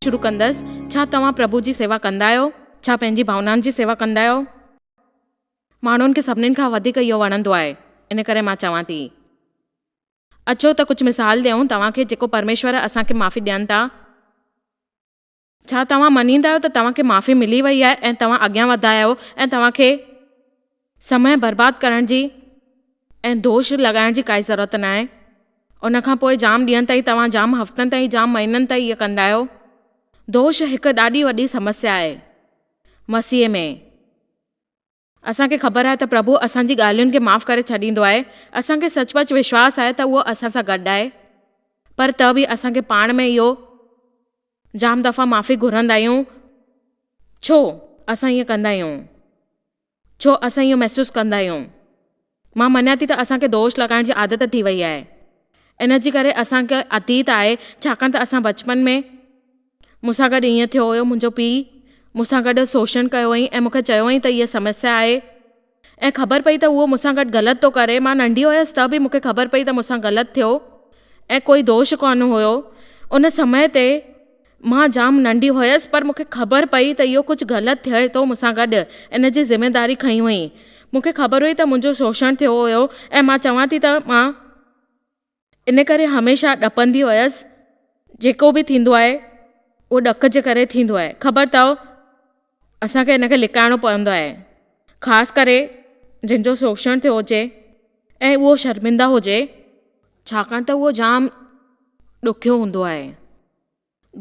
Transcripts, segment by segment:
شروع ڪندس ڇا توهان پرڀو جي سيوا ڪندا آهيو ڇا پنهنجي ڀاونائن جي سيوا ڪندا آهيو ماڻهن کي سڀنين کان وڌيڪ اهو وڻندو آهي ان ڪري مان چوان ٿي اچو ته ڪجهه مثال ڏيون توهان کي جيڪو پرميشور اسان کي معافي ڏين ٿا ڇا توهان مڃيندا آهيو ته توهان کي معافي ملي وئي آهي ۽ توهان اڳيان وڌا آهيو ۽ توهان کي سمئي برباد ڪرڻ جي ۽ دوش لڳائڻ جي ڪائي ضرورت ناهي. ان کان پوء جام ڏينهن تائين توهان جام هفتن تائين جام مهينن تائين اهي ڪندا آهيو. دوش هڪ ڏاڍي وڏي سمسيا آهي مسيح ۾. اسان کي خبر آهي ته پرڀو اسان جي ڳالهين کي معاف ڪري ڇڏيندو آهي. اسان کي سچ پچ وشواس آهي ته اهو اسان سان گڏ آهي. پر ته به اسان کي پاڻ ۾ اهو جام دفعا معافي گهرندا آهيون. ڇو اسان ائين ڪندا آهيون؟ ڇو اسان ائين محسوس ڪندا آهيون؟ مان مڃان ٿي ته اسان کي دوش لڳائڻ جي عادت ٿي وئي آهي. ان جي ڪري اسان کي اتيت آهي، ڇاڪاڻ ته اسان بچپن ۾ مون سان گڏ ائين ٿيو هيو، منهنجو پيء مون سان گڏ سوشڻ ڪيو هئائين ۽ مون کي چيو هئائين ته هيء سمسيا آهي ۽ خبر پئي ته اهو مون سان گڏ غلط ٿو ڪري. مان ننڍي هيس ته به مون کي خبر پئي ته مون سان غلط ٿيو ۽ ڪوئي دوش ڪونه هيو. ان سمئي تي مان جام ننڍي هيس پر مون کي خبر پئي ته اهو ڪجهه غلط ٿئي ٿو مون سان گڏ ان جي ذميواري کنئي هئي. مون کي خبر هئي ته منهنجو شوشڻ ٿيو هيو ۽ مان چوان ٿي ته مان ان ڪري هميشه ڏپندي هيس جيڪو به ٿيندو آهي اهو ڏک جي ڪري ٿيندو آهي خبر اٿئو اسان کي ان کي لڪائڻو پوندو آهي خاص ڪري جنهن جو شوشڻ ٿيو هجي ۽ اهو شرمنده هجي ڇاڪاڻ ته اهو جام ڏکيو هوندو آهي.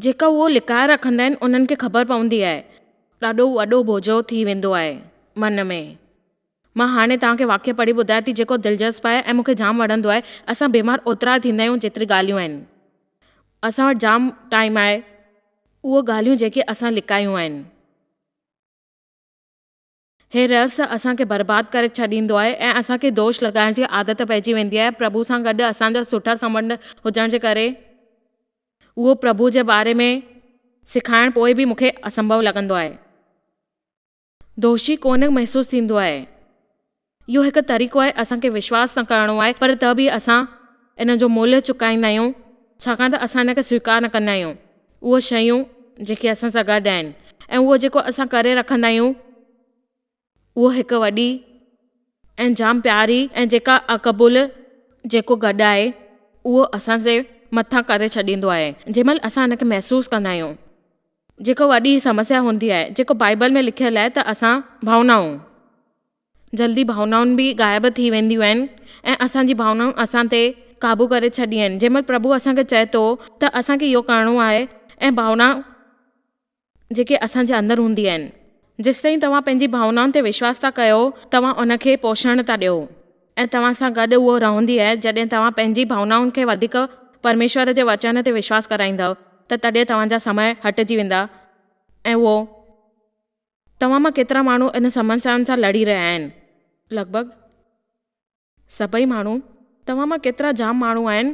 جيڪا اهو لڪائي رکندا آهن انهن کي خبر پوندي آهي. ڏاڍو وڏو بوجهو ٿي ويندو آهي من ۾. مان هاڻي توهان کي واقعو پڙهي ٻڌايان ٿي جيڪو دلچسپ آهي ۽ مون کي جام وڻندو آهي. اسان بيمار اوترا ٿيندا آهيون جيتري ڳالهيون آهن. اسان وٽ جام ٽائيم آهي اهو ڳالهيون جيڪي اسان لڪايون آهن. هي رس اسان کي برباد ڪري ڇڏيندو آهي ۽ اسان کي دوش لڳائڻ جي عادت پئجي ويندي آهي. پرڀو سان گڏ اسان جا سٺا سنٻنڌ هجڻ جي ڪري اهو پرڀو جي باري ۾ سکائڻ پوء به مونکي اسنڀو لڳندو آهي. دوشي ڪونه محسوس ٿيندو آهي. اهو هڪ طريقو آهي اسان کي وشواس نه ڪرڻو آهي پر ته به اسان ان جو ملهه چڪائيندا آهيون ڇاڪاڻ ته اسان ان کي سويڪار نه ڪندا آهيون. اهي شيون جيڪي اسان سان گڏ آهن ۽ اهو جيڪو اسان ڪري رکندا آهيون اهو هڪ وڏي ۽ جام پياري ۽ جيڪا اقبول جيڪو گڏ آهي اهو اسان جي مٿان ڪري ڇڏيندو آهي جنهن مهل اسان ان کي محسوس ڪندا آهيون جيڪو وڏي سمسيا هوندي آهي جيڪو بائبل ۾ لکيل آهي ته اسان ڀاونائون جلدي ڀاونائون به غائب ٿي وينديون آهن ۽ اسان جي ڀاونائون اسان تي قابو ڪري ڇڏي آهن جنهن مهل پرڀو اسان کي چئي ٿو ته اسان کي اهو ڪرڻو آهي ۽ ڀاونائون جيڪي اسان جي اندر هوندي آهن جيستائين توهان پنهنجي ڀاونائن تي وشواس ٿا ڪيو توهان ان کي پوشڻ ٿا ڏيو ۽ توهان سان گڏ اهو رهندي آهي جڏهن توهان پنهنجي ڀاونائن کي وڌيڪ پرميشور جي وچن تي وشواس ڪرائيندؤ ته تڏهن توهان جا سمهه هٽجي ويندا ۽ اهو توهان مان ڪيترا ماڻهو ان سمسيائن سان لڙي رهيا آهن؟ لڳ ڀڳ سڀئي ماڻهو. توهان مان ڪيترا جام ماڻهو آهن؟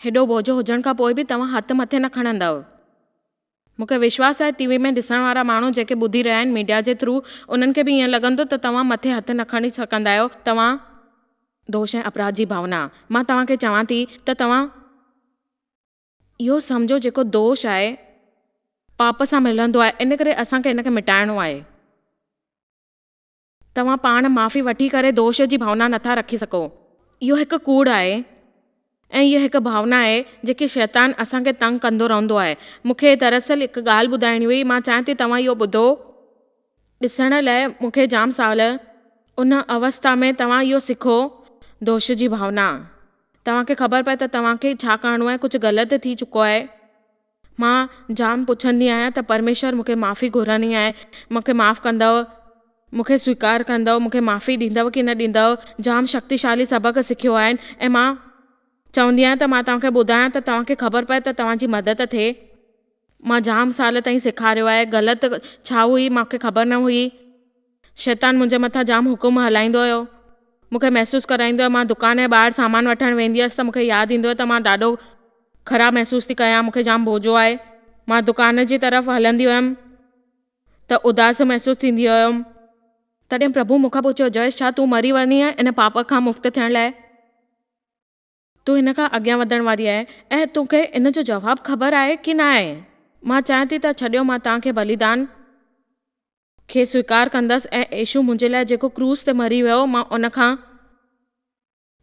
هيڏو ٻوجهو هجڻ کان پوء به توهان هٿ مٿي نه کڻندؤ. مون کي وشواس آهي TV ۾ ڏسڻ وارا ماڻهو جيڪي ٻڌي رهيا آهن ميڊيا جي ٿرو انهن کي به ائين لڳندو ته توهان مٿي هٿ نه کڻي سگهندا آهيو توهان دوش ۽ اپراڌ جي ڀاونا مان توهان کي چوان ٿي ته توهان. اهو سمجهو جيڪو دوش آهي پاپ سان ملندو آهي ان ڪري اسان کي ان کي مٽائڻو آهي. توهان پاڻ معافي وٺي ڪري دوش جي ڀاونا نٿا رکي سگهو. اهو هڪ ڪوڙ آهي ۽ اها هڪ ڀاونا آهي جيڪي شيطان اسان کي تنگ ڪندو رهندو آهي. مون کي دراصل هڪ ڳالهه ٻڌائڻي هئي مان چاهيان ٿي توهان اهو ٻڌو. ڏسڻ لئه مون کي جام سال. ان اوستا ۾ توهان اهو سکو. دوش جي ڀاونا. توهان کي خبر پئي ته توهان کي ڇا ڪرڻو آهي ڪجهه غلط ٿي چڪو آهي. مان جام پڇندي آهيان ته پرميشور مون کي معافي گهرڻي آهي مون کي معاف ڪندؤ؟ مون کي سويڪار ڪندؤ؟ مون کي معافي ڏيندؤ ڪي نه ڏيندؤ؟ جام شڪتيشالي سبق سکيو آهن ۽ مان چوندي آهيان ته مان توهان کي ٻڌايان ته توهان کي خبر پئي ته توهان جي مدد ٿئي. مان جام سال تائين سيکاريو آهي غلط ڇا هئي مان کي خبر نه هئي شيطان منهنجي مٿان جام حڪم هلائيندو هيو مون کي محسوس ڪرائيندو هيو مان دڪان جي ٻاهر سامان وٺڻ ويندي هيس ته مون کي ياد ايندو هيو ته مان ڏاڍو خراب محسوس ٿي ڪيان مون کي جام ڀوجو آهي مان دڪان جي طرف هلندي هيم ته اداس محسوس ٿيندي هيم. تڏهن پرڀو مون کان پڇيو جئيش ڇا تون مري وڃي آهي ان پاپ کان مفت ٿيڻ لاء؟ تون هن کان اڳيان وڌڻ واري آهي ۽ تو کي ان جو جواب خبر آهي ڪي نه آهي. مان چاهيان ٿي ته ڇڏيو مان توهان کي بليدان کي سويڪار ڪندس ۽ عيشو منهنجي لاء جيڪو ڪروس تي مري ويو مان ان کان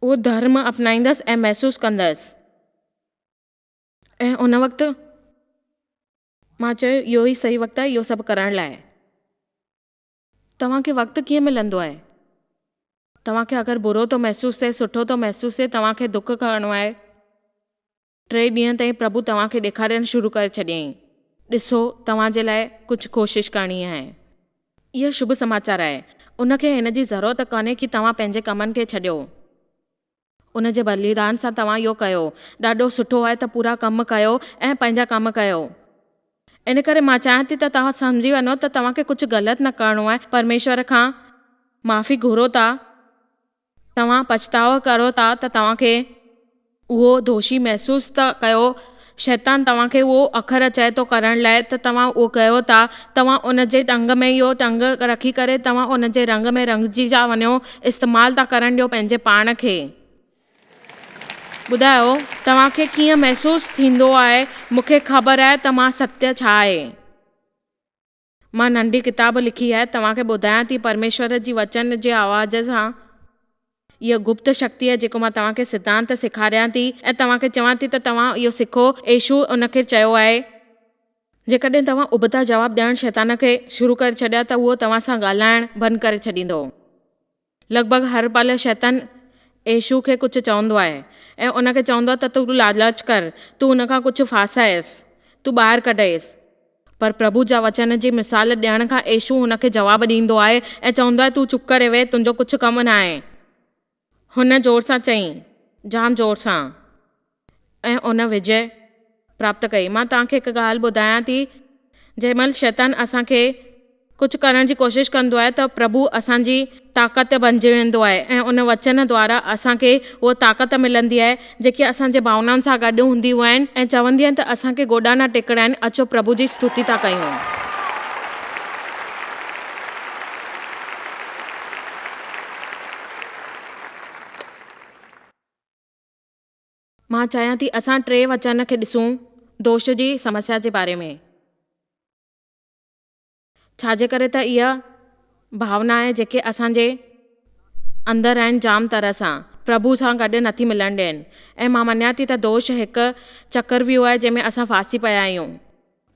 اهو ڌرم اپنائيندس ۽ محسوس ڪندس. ۽ ان وقت مان چيو اهو ئي صحيح وقت آهي اهو سڀ ڪرڻ لاء. توهان کي وقت ڪيئن ملندو آهي؟ توهان کي اگر برو ٿو محسوس ٿئي، سٺو ٿو محسوس ٿئي، توهان کي دک ڪرڻو آهي، ٽي ڏينهن تائين پرڀو توهان کي ڏيکارڻ شروع ڪري ڇڏيائين، ڏسو توهان جي لاء ڪجهه ڪوشش ڪرڻي آهي. اهو شڀ سماچار آهي. ان کي هن جي ضرورت ڪانهي ڪي توهان پنهنجي ڪمن کي ڇڏيو. ان جي بليدان سان توهان اهو ڪيو. ڏاڍو سٺو آهي ته پورا ڪم ڪيو ۽ پنهنجا ڪم ڪيو. ان ڪري مان چاهيان ٿي ته توهان سمجهي وڃو ته توهان کي ڪجهه غلط نه ڪرڻو آهي. پرميشور کان معافي گهرو ٿا. توهان پڇتاء ڪريو ٿا ته توهان کي اهو دوشي محسوس ته ڪيو شيطان توهان کي اهو اکر چئي ٿو ڪرڻ لاء ته توهان اهو ڪيو ٿا، توهان ان جي ٽنگ ۾ اهو ٽنگ رکي ڪري توهان ان جي رنگ ۾ رنگجي ٿا وڃو، استعمال ٿا ڪرڻ ڏيو پنهنجي پاڻ کي. ٻڌايو توهان کي ڪيئن محسوس ٿيندو آهي، مون کي خبر آهي ته مان ستيا ڇا آهي. مان ننڍي ڪتاب لکي آهي توهان کي ٻڌايان ٿي پرميشور جي وچن جي آواز سان اها گپت شڪتي جيڪو مان توهان کي سڌانت سيکاريان ٿي ۽ توهان کي چوان ٿي ته توهان اهو سکو ايشوء ان کي چيو آهي. جيڪڏهن توهان ابتا جواب ڏيڻ شيطان کي شروع ڪري ڇڏيا ته اهو توهان سان ڳالهائڻ بند ڪري ڇڏيندو. لڳ ڀڳ هر پل شيطان يسوع کي ڪجهه چوندو آهي ۽ ان کي چوندو آهي ته تون لالچ ڪر، تون ان کان ڪجهه ڦاسائيس، تون ٻاهر ڪڍيس. پر پرڀو جا وچن جي مثال ڏيڻ کان يسوع هن کي جواب ڏيندو آهي ۽ چوندو آهي، تون چپ ڪري ويهه، تنهنجو ڪجهه ڪم ناهي. هن زور سان چيائين، جام زور سان. ۽ ان وجئي پراپت ڪئي. مان توهان کي هڪ ڳالهه ٻڌايان ٿي، جنهن مهل شيطان اسان کي ڪجهه ڪرڻ جي ڪوشش ڪندو آهي ته پرڀو اسان جي طاقت بنجي ويندو آهي ۽ ان وچن دوارا اسان کي اها طاقت ملندي آهي جيڪي اسان جي ڀاونائن سان گڏ هونديون آهن ۽ چوندي آهن ته اسان کي گوڏا نه ٽيڪڻا آهن اچو پرڀو جي استوتي ٿا ڪيون. مان چاهيان ٿي اسان ٽي وچن کي ڏسون دوش جي سمسيا جي باري ۾. ڇا جي ڪري ته اهي ڀاونائن جيڪي اسان جي اندر آهن جام طرح سان پرڀو سان گڏ نٿي ملڻ ڏين ۽ مان مڃان ٿي ته دوش هڪ چڪرويوهه آهي جنهن ۾ اسان ڦاسي پيا آهيون.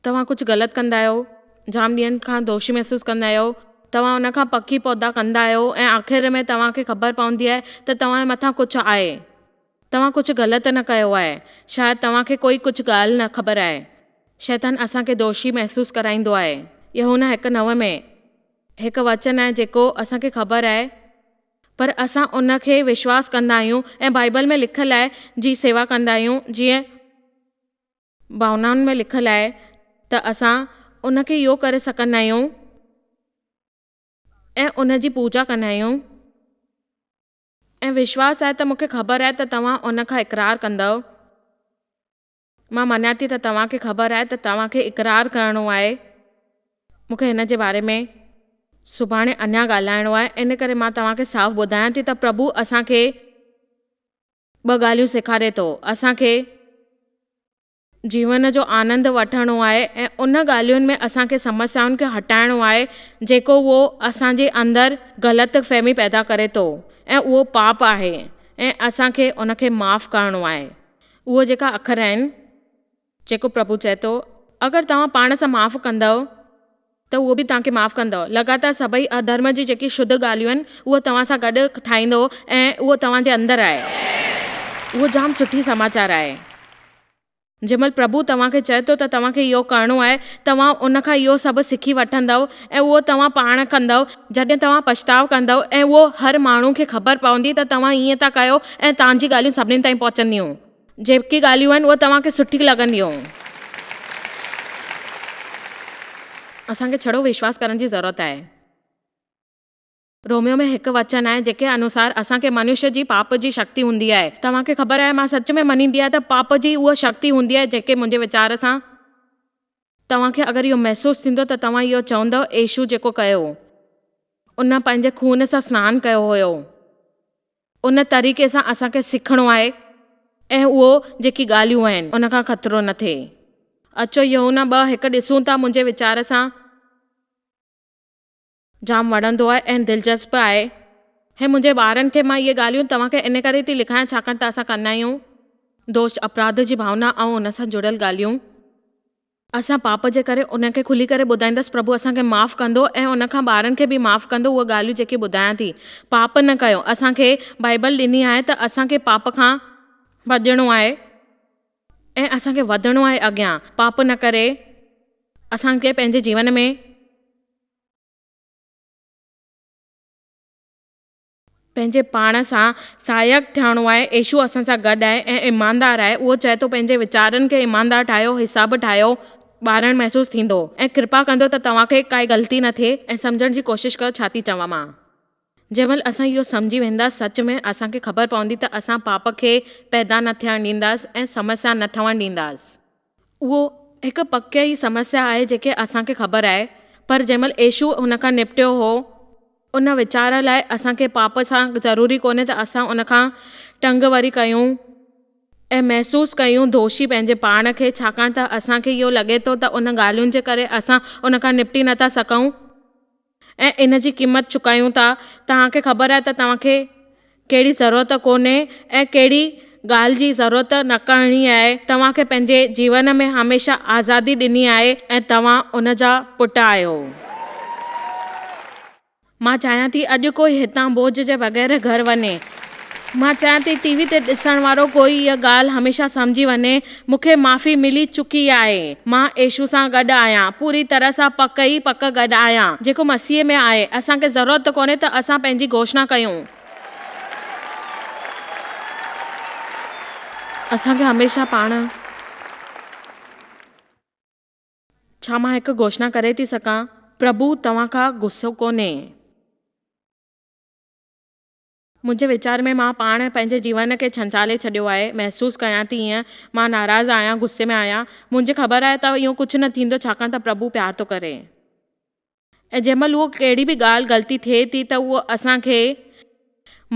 توهان ڪجهه غلط ڪندا آهيو، جام ڏينهن کان دوشي محسوس ڪندا آهيو، توهان ان کان پڪي پودا ڪندا آهيو ۽ آخر ۾ توهان کي خبر پوندي آهي ته توهان جي مٿان ڪجهه آهي. توهان ڪجهه غلط نه ڪيو آهي. شايد توهان کي ڪوئي ڪجهه ڳالهه نه خبر آهي. شيطان اسان کي دوشي محسوس ڪرائيندو آهي. يوحنا هڪ نو ۾ هڪ وچن آهي جيڪو اسان کي خبر آهي پر اسان ان کي وشواس ڪندا آهيون ۽ بائيبل ۾ لکيل آهي جي سيوا ڪندا آهيون جيئن ڀاونائن ۾ لکيل آهي ته اسان ان کي اهو ڪري سڪندا آهيون ۽ ان جي پوڄا ڪندا آهيون ۽ وشواس آهي ته مون کي خبر آهي ته توهان ان کان اقرار ڪندؤ. مان مڃان ٿي ته توهان کي خبر آهي ته توهان کي اقرار ڪرڻو آهي. مون کي هن جي باري ۾ سڀاڻي اڃا ڳالهائڻو آهي ان ڪري مان توهان کي صاف ٻڌايان ٿي ته پرڀو اسان کي ٻه ڳالهيون سيکاري ٿو. اسان کي جيون جو آنند وٺڻو آهي ۽ ان ڳالهين ۾ اسان کي سمسيائن کي هٽائڻو آهي جيڪو اهو اسان جي اندر غلط فهمي پيدا ڪري ٿو ۽ اهو پاپ آهي ۽ اسان کي ان کي معاف ڪرڻو آهي اهي جيڪا اکر آهن جيڪو پرڀو چئي ٿو، اگر توهان پاڻ سان معاف ڪندؤ ته اهو به توهان کي معاف ڪندؤ. لڳاتار سڀئي اڌرم جي جيڪي شڌ ڳالهيون آهن، اهو توهان سان گڏ ٺاهيندو ۽ اهو توهان جي اندر آهي. اهو جام سٺي سماچار آهي. جنهن مهل پرڀو توهان کي چئي ٿو ته توهان کي اهو ڪرڻو آهي، توهان ان کان اهو سڀ سکي وٺندؤ ۽ اهو توهان پاڻ ڪندؤ. جڏهن توهان پڇتاء ڪندؤ ۽ اهو هر ماڻهو کي خبر پوندي ته توهان ائين ٿا ڪيو ۽ توهان جي ڳالهيون سڀني تائين پهچنديون. جيڪي ڳالهيون آهن اهي توهان کي سٺيون لڳنديون. اسان کي ڇڙو وشواس ڪرڻ جي ضرورت آهي. روميو ۾ هڪ وچن آهي جيڪي انوسار اسان کي منشي جي پاپ جي شڪتي هوندي آهي. توهان کي خبر آهي مان سچ ۾ مڃيندي آهيان ته پاپ جي اها شڪتي هوندي آهي جيڪي منهنجي ويچار سان. توهان کي اگر اهو محسوس ٿيندو ته توهان اهو چوندؤ عيشو جيڪو ڪيو هو ان پنهنجي خون سان سنان ڪيو هيو ان طريقي سان اسان کي سکڻو آهي ۽ اهو جيڪي ڳالهيون آهن ان کان خطرو نه ٿئي اچو يوحنا ٻه هڪ ڏسون ٿا منهنجي ويچار سان جام وڻندو آهي ۽ دلچسپ به آهي هي منهنجي ٻارن کي مان اهي ڳالهيون توهان کي ان ڪري ٿي لکايان ڇاڪاڻ ته اسان ڪندا آهيون دوش اپراڌ جي ڀاونا ۽ ان سان جڙيل ڳالهيون اسان پاپ جي ڪري انهن کي کلي ڪري ٻڌائيندس پرڀو اسان کي معاف ڪندو ۽ ان کان ٻارن کي به معاف ڪندو اهي ڳالهيون جيڪي ٻڌايان ٿي پاپ نه ڪيو اسان کي بائبل ڏني آهي ته اسان کي پاپ کان ڀڄڻو آهي ۽ اسان کي وڌڻو آهي اڳيان پاپ نه ڪري اسان کي پنهنجي جيون ۾. پنهنجي پاڻ سان سهائڪ ٿيڻو آهي. عيشو اسان سان گڏ آهي ۽ ايماندار آهي. اهو چئي ٿو، پنهنجي ويچارن کي ايماندار ٺاهيو، حساب ٺاهيو، ٻارڻ محسوس ٿيندو ۽ ڪرپا ڪندو ته توهان کي ڪائي غلطي نه ٿئي ۽ سمجهڻ جي ڪوشش ڪيو ڇا ٿي چوان مان. جنهن مهل اسان اهو سمجهي ويندا سچ ۾ اسان کي خبر پوندي ته اسان پاپ کي پيدا نه ٿيڻ ڏينداس ۽ سمسيا نه ٺهڻ ڏينداس. اهو هڪ پڪي ئي سمسيا آهي جيڪي اسان کي خبر آهي پر جنهن مهل ايشو ان کان نپٽيو هو ان ويچار لاء اسان کي پاپ سان ضروري ڪونهي ته اسان ان کان ٽنگ وري ڪيون ۽ محسوس ڪيون دوشي پنهنجي پاڻ کي ڇاڪاڻ ته اسان کي اهو لڳي ٿو ته ان ڳالهين جي ڪري اسان ان کان نپٽي نٿا سگهون. ۽ ان جي قيمت چڪايون ٿا، توهان کي خبر آهي ته توهان کي ڪهڙي ضرورت ڪونهي ۽ ڪهڙي ڳالهه جي ضرورت نه ڪرڻي آهي، توهان کي پنهنجي جيون ۾ هميشه آزادي ڏني آهي ۽ توهان ان جا پٽ آهيو. مان چاهيان ٿي اڄ ڪوئي هتان بوجهه جي بغير گهر وڃي. مان چاهيان ٿي ٽي وي تي ڏسڻ وارو ڪوئي اها ڳالهه هميشه سمجهي وڃي مون کي معافي ملي چڪي آهي. مان يسوع سان گڏ آهيان. پوري طرح سان پڪ ئي پڪ گڏ آهيان. جيڪو مسيح ۾ آهي. اسان کي ضرورت ڪونهي ته اسان پنهنجي گهوشنا ڪيون. اسان کي هميشه پاڻ. ڇا مان هڪ گهوشنا ڪري ٿي سگهان؟ پرڀو توهان کان غصو ڪونهي. منهنجي ويچار ۾ مان پاڻ پنهنجي جيون کي ڇنڇالي ڇڏيو آهي. محسوس ڪيان ٿي ايئن. مان ناراض آهيان، غصي ۾ آهيان. منهنجي خبر آهي ته اهو ڪجهه نه ٿيندو ڇاڪاڻ ته پرڀو پيار ٿو ڪري. ۽ جنهن مهل اهو ڪهڙي به ڳالهه غلطي ٿئي ٿي ته اهو اسان کي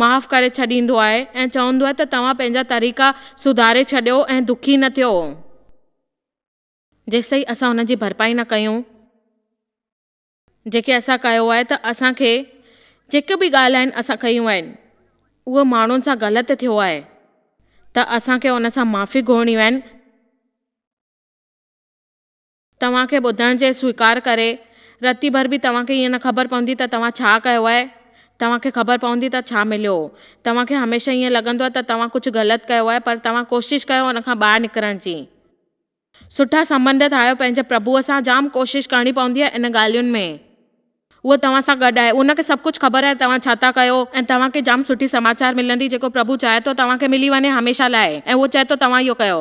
معاف ڪري ڇڏيندو آهي ۽ چوندو آهي ته توهان پنهنجا طريقا سڌاري ڇڏيو ۽ دکي نه ٿيو جيستائين اسان ان جي ڀرپائي نه ڪيون. جيڪي اسان ڪيو آهي ته اسان کي جيڪي به ڳالهه آهن اسان ڪيون آهن اهو ماڻهن سان غلط ٿيو آهي ته اسان کي ان سان معافي گهرڻيون آهن توهان کي ٻڌڻ جي سويڪار ڪري رتي ڀر به توهان کي ايئن نه خبر پوندي ته توهان ڇا ڪيو آهي توهان کي خبر پوندي ته ڇا مليو هو توهان کي هميشه ايئن لڳندو ته توهان ڪجهه غلط ڪيو آهي پر توهان ڪوشش ڪيو ان کان ٻاهر نڪرڻ جي. سٺا سنٻنڌ ٺاهيو پنهنجي پرڀوء سان جام ڪوشش ڪرڻي پوندي آهي ان ڳالهين ۾ هو توهان سان گڏ آهي هن کي سڀ ڪجهه خبر آهي توهان ڇا ٿا ڪيو ۽ توهان کي جام سٺي سماچار ملندي جيڪو پرڀو چاهي ٿو توهان کي ملي وڃي هميشه لاء ۽ هو چئي ٿو توهان اهو ڪيو.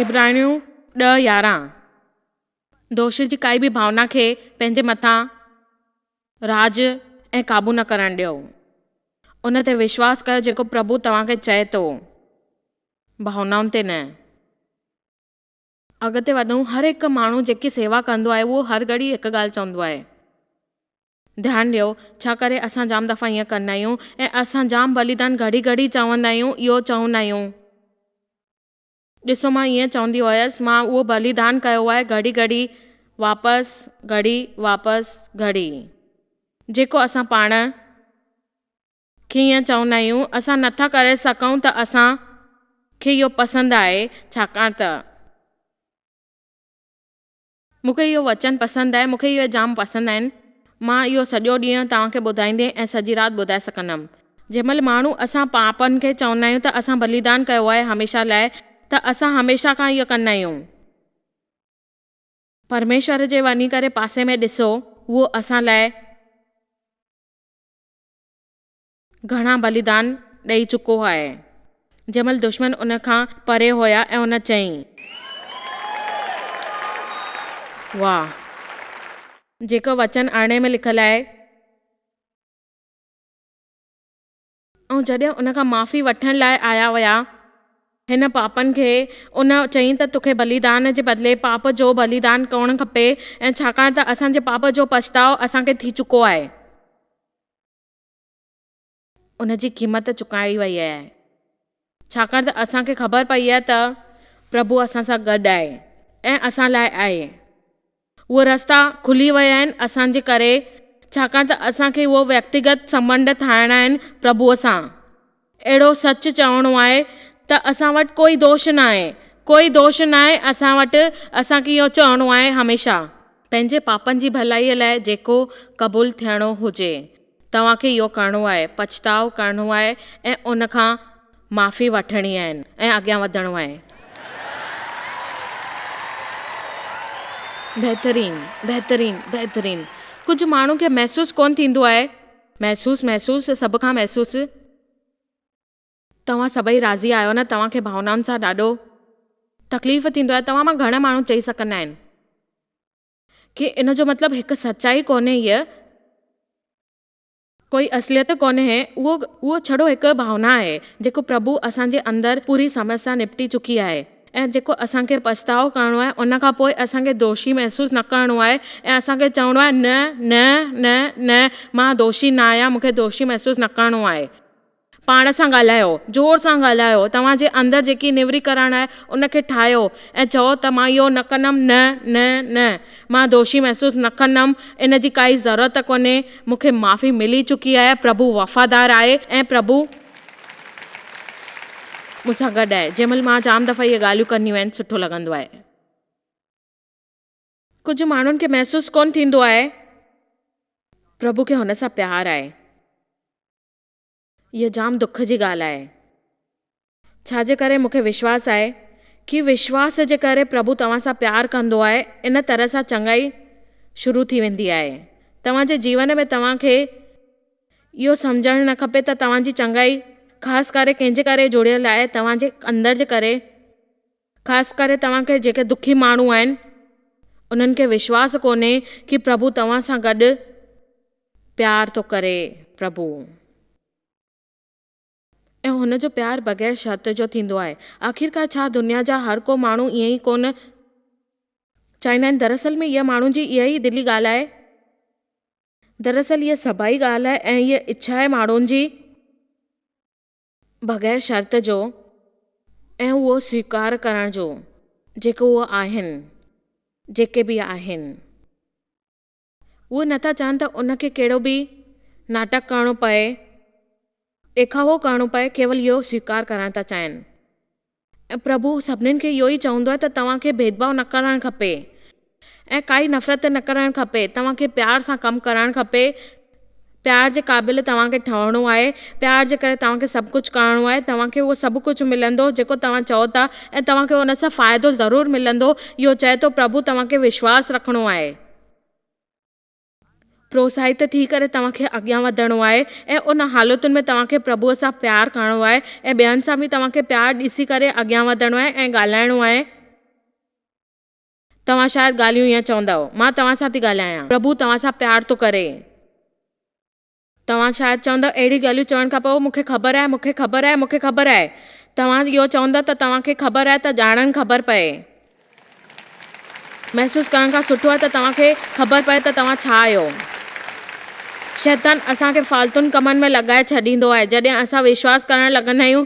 عبرانيون ڏهه يارهن دوش جي ڪائي به ڀاونا کي پنهنجي مٿان. راڄ ۽ قابو نه ڪرڻ ڏيو. ان تي وشواس ڪيو جيڪو پرڀو توهان کي چئي ٿو، ڀاونائن تي نه. اڳتي وڌون، هر هڪ ماڻهو جيڪي سيوا ڪندو آهي اهو هر گهڙي هڪ ڳالهه چوندو آهي. ڌيان ڏيو، ڇا ڪري اسان جام دفعا ائين ڪندا آهيون ۽ اسان جام بليدان گهڙي گهڙي چوندا آهيون، اهو چوندا آهيون. ڏسو مان ائين چوندي هئس مان اهو بليدان ڪيو آهي گهڙي گهڙي واپس گهڙي واپس گهڙي جيڪو اسان پاڻ کي ائين چوندا آهيون اسان نٿا ڪري سگهون ته اسان کي اهو پسند آهي ڇاڪاڻ ته. مون کي اهو وچن پسند آهي. مون کي اهي جام پسند آهن. مان اهو سڄو ڏينهن توهان کي ٻڌائيندي ۽ سڄي رات ٻڌائي سگهندم. جنهن مهل ماڻهو اسان پاپن کي چوندا آهيون ته اسان بليدان ڪيو آهي هميشه لاء ته اسان هميشه کان اهو ڪندا آهيون. پرميشور جي وڃي ڪري پاسي ۾ ڏسو اهو اسان لاء. گهڻا بليدان ڏئي چڪو آهي. جنهن مهل دشمن ان کان پري هيا ۽ ان چيائين. واهه! جيڪو وچن ارڙهين ۾ لکيل آهي. ۽ جڏهن ان کان معافي وٺڻ لاء آيا ويا هن پاپن کي ان چيائين ته توکي بليدان جي بدلي پاپ جو بليدان ڪرڻ کپي ۽ ڇاڪاڻ ته اسان جي پاپ جو پڇتاء اسان کي ٿي چڪو آهي. ان جي قيمت چڪائي وئي آهي، ڇاڪاڻ ته اسان کي خبر پئي آهي ته پرڀو اسان سان گڏ آهي ۽ اسان لاء آهي. اهي رستا کلي ويا آهن اسان جي ڪري، ڇاڪاڻ ته اسان کي اهي ويڪتيگت سنٻنڌ ٺاهڻا آهن پرڀوء سان. اهڙو سچ چوڻو آهي ته اسان وٽ ڪوئي دوش ناهي، ڪوئي دوش ناهي اسان وٽ، اسان کي اهو چوڻو آهي هميشه. پنهنجي پاپن جي ڀلائيء لاء جيڪو قبول ٿيڻو هجي، توهان کي اهو ڪرڻو آهي، پڇتاء ڪرڻو آهي ۽ ان کان معافي وٺڻي آهي ۽ اڳيان وڌڻو آهي. بهترين، بهترين، بهترين! ڪجهه ماڻهن کي محسوس ڪونه ٿيندو آهي. محسوس محسوس سڀ کان محسوس. توهان سڀئي راضي آهيو نه توهان کي ڀاونائن سان ڏاڍو تڪليف ٿيندو آهي توهان مان گهڻ ماڻهو چئي سگهندا آهن ڪي ان جو مطلب هڪ سچائي ڪونهي هيء ڪوئي اصليت ڪونهي اهو اهو ڇڙو هڪ ڀاونا آهي جيڪو پرڀو اسان جي اندر پوري سمس سان نپٽي چڪي آهي. ۽ جيڪو اسان کي پڇتاء ڪرڻو آهي ان کان پوء اسان کي دوشي محسوس نه ڪرڻو آهي ۽ اسان کي چوڻو آهي نه نه نه نه مان دوشي نه آهيان مون کي دوشي محسوس نه ڪرڻو آهي. پاڻ سان ڳالهايو، زور سان ڳالهايو، توهان جي اندر جيڪي نيوريڪرڻ آهي ان کي ٺاهيو ۽ چئو ته مان اهو نه ڪندم نه نه نه مان دوشي محسوس نه ڪندم ان جي ڪائي ضرورت ڪونهي مون کي معافي ملي چڪي آهي پرڀو وفادار آهي ۽ پرڀو مون سان گڏ آهي جنهن مهل مان جام دفعا اهي ڳالهيون ڪنديون آهن سٺو لڳندو آهي. ڪجهه ماڻهن کي محسوس ڪونه ٿيندو آهي پرڀو کي هن سان پيار آهي اها جام دک جي ڳالهه آهي ڇا جي ڪري مونکي وشواس آهي ڪي وشواس جي ڪري پرڀو توهان سان پيار ڪندو آهي ان طرح سان چڱائي شروع ٿي ويندي آهي توهان جي جيون ۾ توهان کي اهو سمجهڻ نه کپي ته توهان جي چڱائي خاص ڪري ڪنهن جي ڪري جڙيل آهي، توهان جي اندر جي ڪري، خاص ڪري توهان کي جيڪي دکي ماڻهو آهن، انهن کي وشواس ڪونهي ڪي پرڀو توهان سان گڏ پيار ٿو ڪري، پرڀو. ۽ هن جو پيار بغير شرط جو ٿيندو آهي. آخرڪار ڇا دنيا جا هر ڪو ماڻهو ائين ئي ڪونه چاهيندا آهن؟ دراصل ۾ اها ماڻهن جي اها ئي دلي ڳالهه آهي. دراصل اها سڀائي ڳالهه آهي ۽ اها اڇا آهي ماڻهن جي بغير شرط جو ۽ اهو سويڪار ڪرڻ جو جيڪي اهي آهن، جيڪي به آهن. اهي نه ٿا چاهن ته ان کي ڪهڙو به ناٽڪ ڪرڻو پئي، ڏيکاوو ڪرڻو پئي، ڪيول اهو سويڪار ڪرڻ ٿا چاهين. ۽ پرڀو سڀني کي اهو ئي چوندو آهي ته توهان کي ڀيدڀاء نه ڪرڻ کپي ۽ ڪائي نفرت نه ڪرڻ کپي، توهان کي پيار سان ڪم ڪرڻ کپي، پيار جي قابل توهان کي ٺهڻو آهي، پيار جي ڪري توهان کي سڀ ڪجهه ڪرڻو آهي، توهان کي اهو سڀ ڪجهه ملندو جيڪو توهان چئو ٿا ۽ توهان کي ان سان فائدو ضرور ملندو، اهو چئي ٿو پرڀو توهان کي وشواس رکڻو آهي. پروتساهت ٿي ڪري توهان کي اڳيان وڌڻو آهي ۽ ان حالتن ۾ توهان کي پرڀوء سان پيار ڪرڻو آهي ۽ ٻين سان به توهان کي پيار ڏسي ڪري اڳيان وڌڻو آهي ۽ ڳالهائڻو آهي. توهان شايد ڳالهيون ائين چوندؤ. مان توهان سان ٿي ڳالهايان. پرڀو توهان سان پيار ٿو ڪري. توهان شايد چوندؤ، اهڙيون ڳالهيون چوڻ کان پوء، مون کي خبر آهي، مون کي خبر آهي، مون کي خبر آهي. توهان اهو چوندؤ ته توهان کي خبر آهي ته ڄاڻڻ خبر پئي. محسوس ڪرڻ کان سٺو آهي ته توهان کي خبر پئي ته توهان ڇا آهيو. شيطان اسان کي فالتون ڪمن ۾ لڳائي ڇڏيندو آهي. جڏهن اسان وشواس ڪرڻ لڳندا آهيون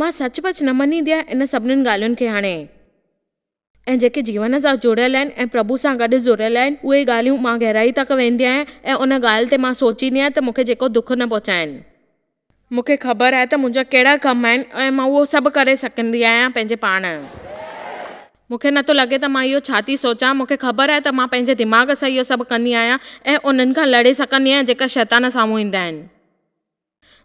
مان سچ پچ نه مڃيندي آهيان ان سڀنين ڳالهين کي هاڻي ۽ جيڪي جيون سان جڙيل آهن ۽ پرڀو سان گڏ جڙيل آهن اهي ڳالهيون مان گهرائي تڪ ويندي آهيان ۽ ان ڳالهه تي مان سوچيندي آهيان ته مون کي جيڪو دک نه پهچائين. مون کي خبر آهي ته منهنجا ڪهڙا ڪم آهن ۽ مان اهو سڀ ڪري سگهندي آهيان پنهنجي پاڻ. مون کي نٿو لڳي ته مان اهو ڇا ٿي سوچان مون کي خبر آهي ته مان پنهنجي دماغ سان اهو سڀ ڪندي آهيان ۽ انهن کان لڙي سگهندي آهيان جيڪا شيطان سامهون ايندا آهن.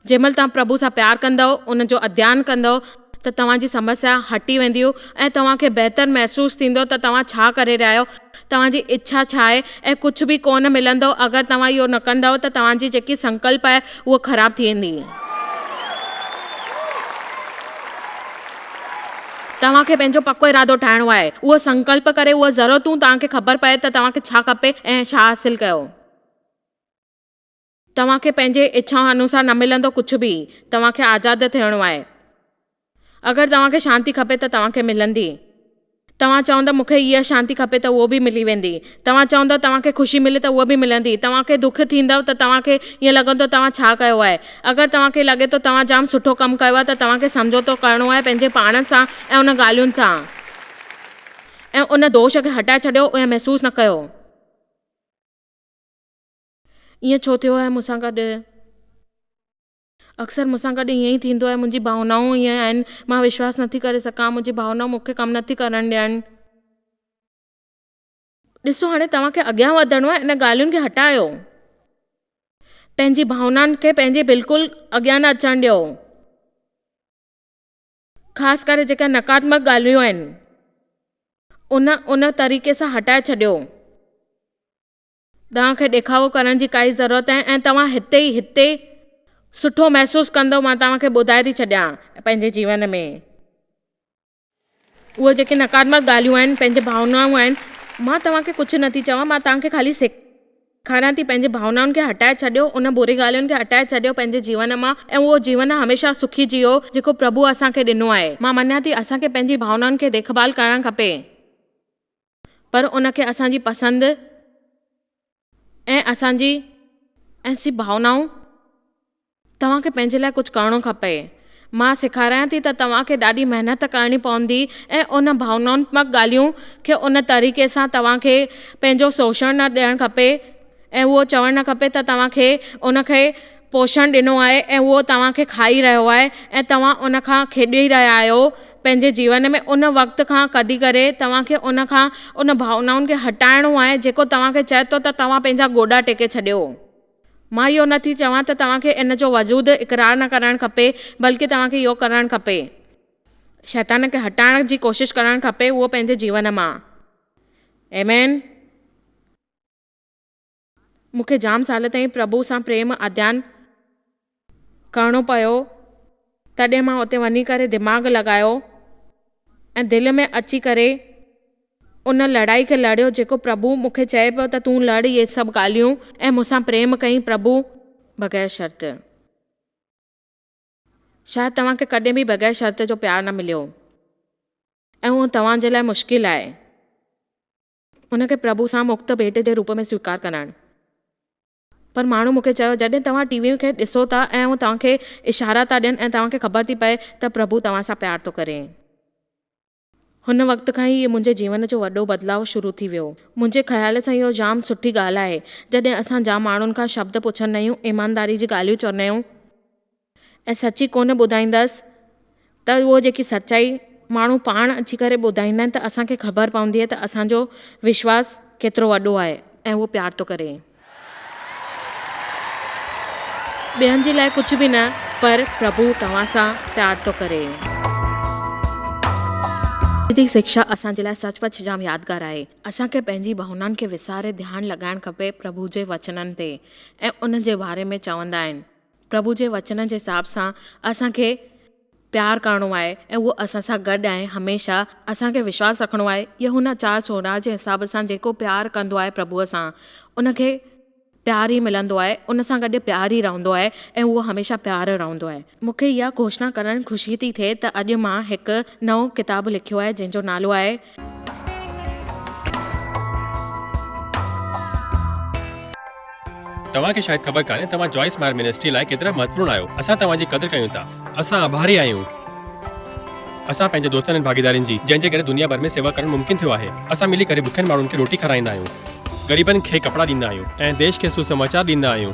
جنهن مهل توهان پرڀو سان پيار ڪندؤ، ان جو اڌيان ڪندؤ ته توهان جي سمسيا هٽي وينديون ۽ توهان کي بهتر محسوس ٿيندو ته توهان ڇا ڪري رهيا آهيو، توهان جي اڇا ڇا آهي ۽ ڪجهه به ڪونه ملندؤ اگر توهان اهو نه ڪندؤ ته توهان جي جيڪي سنڪلپ آهي اهو خراب ٿي ويندي. توهان کي پنهنجو پڪو ارادو ٺاهڻو آهي، اهو سنڪلپ ڪري اهو ضرورتون توهان کي خبر پئي ته توهان کي ڇا کپي ۽ ڇا حاصل ڪيو. توهان کي پنهنجي اڇا انوسار نه ملندو ڪجهه به. توهان کي آزاد ٿيڻو آهي. اگر توهان کي شانتي کپي ته توهان کي ملندي. توهان چوندو مون کي اها شانتي کپي ته اهو به ملي ويندي. توهان چوندو توهان کي خوشي ملي ته اها به ملندي. توهان کي دک ٿيندو ته توهان کي ائين لڳندو توهان ڇا ڪيو آهي. اگر توهان کي لڳي ٿو توهان جام سٺو ڪم ڪيو آهي ته توهان کي سمجهوتو ڪرڻو آهي پنهنجي پاڻ سان ۽ ان ڳالهين سان ۽ ان دوش کي هٽائي ڇڏيو ائين محسوس نه ڪيو. ائين ڇو ٿيو آهي مون سان گڏ؟ اڪثر مون سان گڏ ائين ئي ٿيندو آهي. منهنجي ڀاونائون ائين آهن. مان وشواس نٿي ڪري سگهان. منهنجي ڀاونائون مون کي ڪم نٿي ڪرڻ ڏين. ڏسو هاڻي توهان کي اڳيان وڌڻو آهي ان ڳالهين کي هٽايو. پنهنجي ڀاونائن کي پنهنجي بلڪل اڳيان نه اچڻ ڏيو. خاص ڪري جيڪي نقاتمڪ ڳالهيون آهن ان ان طريقي سان هٽائي ڇڏيو. توهان کي ڏيکاوو ڪرڻ جي ڪائي ضرورت ناهي ۽ توهان هتي ئي هتي سٺو محسوس ڪندو مان توهان کي ٻڌائي ٿي ڇڏيان پنهنجي جيون ۾ اهي جيڪي نقادمت ڳالهيون آهن پنهنجي ڀاونائون آهن مان توهان کي ڪجهه نٿي چوان مان توهان کي خالي سيکاريان ٿي پنهنجي ڀاونائن کي هٽائي ڇڏيو ان بري ڳالهين کي هٽائي ڇڏيو پنهنجي جيون مان ۽ اهو جيون هميشه سکي جيئو جيڪو پرڀوء اسان کي ڏنو آهي مان مڃان ٿي اسان کي پنهنجي ڀاونائن کي ديکڀال ڪرڻ کپي. پر ان کي اسان جي پسند ۽ اسان جي احسي ڀاونائون توهان کي پنهنجي لاء ڪجهه ڪرڻو کپئي. مان سيکاريان ٿي ته توهان کي ڏاڍي محنت ڪرڻي پوندي ۽ ان ڀاونائتمڪ ڳالهيون کي ان طريقي سان توهان کي پنهنجو سوشڻ نه ڏيڻ کپي ۽ اهو چوڻ نه کپي ته توهان کي ان کي پوشڻ ڏنو آهي ۽ اهو توهان کي کائي رهيو آهي ۽ توهان ان کان کيڏي رهيا آهيو پنهنجي جيون ۾ ان وقت کان ڪڍي ڪري توهان کي ان کان ان ڀاونائن کي هٽائڻو آهي جيڪو توهان کي چئي ٿو ته توهان پنهنجا گوڏا ٽيڪي ڇڏيو. مان اهو نه ٿي چوان ته توهان کي ان جو وجود اقرار نه ڪرڻ کپي بلڪه توهان کي اهو ڪرڻ کپي شيطان کي هٽائڻ جي ڪوشش ڪرڻ کپي اهو پنهنجي جيون مان Amen. مون کي جام سال تائين پرڀوء سان پريم اڌيان ڪرڻو پيو، تڏهن مان اتي وڃي ڪري دماغ لڳايو ۽ دل ۾ اچي ڪري ان لڙائي کي لڙيو جيڪو پرڀو مون کي چئي پيو ته تون لڙ اهي سڀ ڳالهيون ۽ مون سان پريم ڪئين پرڀو بغير شرط شايد توهان کي ڪڏهن به بغير شرط جو پيار نه مليو ۽ اهو توهان جي لاء مشڪل آهي. ان کي پرڀو سان مفت ڀيٽ جي روپ ۾ سويڪار ڪرائڻ. پر ماڻهو مون کي چيو، جڏهن توهان ٽي ويء کي ڏسو ٿا ۽ هو توهان کي اشارا ٿا ڏين ۽ توهان کي خبر ٿي پئي ته پرڀو توهان سان پيار ٿو ڪري. هن وقت کان ئي منهنجي جيون جو وڏو بدلاء شروع ٿي ويو. منهنجي خيال سان اهو جام سٺي ڳالهه آهي، جڏهن اسان جام ماڻهن کان شبد پڇندا آهيون، ايمانداري جي ڳالهيون چوندا آهيون، ۽ سچي ڪونه ٻڌائيندس ته اهو جيڪي سچائي ماڻهو پاڻ اچي ڪري ٻڌائيندا آهن ته اسان کي خبر پوندي آهي ته اسان جو وشواس ڪيترو وڏو آهي ۽ اهو پيار ٿو ڪري. ٻين جي لاء ڪجهه به نه پر پرڀو توهان سان پيار ٿو ڪري. اڄ جي سکيا اسان جي لاء سچ پچ جام يادگار آهي. اسان کي پنهنجي ڀاونائن کي وساري ڌيان لڳائڻ کپي پرڀو جي وچنن تي ۽ ان جي باري ۾ چوندا آهن. پرڀو جي وچن جي حساب سان اسان کي پيار ڪرڻو آهي ۽ اهو اسان سان گڏ آهي هميشه اسان کي وشواس رکڻو آهي يوحنا چار سورهن جي حساب سان جيڪو پيار ڪندو آهي پرڀو سان ان کي پيار ئي ملندو آهي ان سان گڏ پيار ئي رهندو آهي ۽ اهو هميشه پيار رهندو آهي. مون کي اها گهوشنا ڪرڻ خوشي ٿي ٿئي ته اڄ مان هڪ نئون ڪتاب لکيو آهي جنهن جو نالو آهي توهان کي شايد خبر ڪانهي توهان جوائس مائر منسٽري لاء ڪيترا مهتوپورن آهيو اسان توهان جي قدر ڪيون ٿا اسان آڀاري آهيون اسان پنهنجي دوستن ۽ ڀاڳيدارين جي جنهن جي ڪري دنيا ڀر ۾ سيوا ڪرڻ ممڪن ٿيو آهي اسان ملي ڪري بکين ماڻهن کي روٽي کارائيندا آهيون غريبن کي ڪپڙا ڏيندا آهيون ۽ ديش کي سو سماچار ڏيندا آهيون.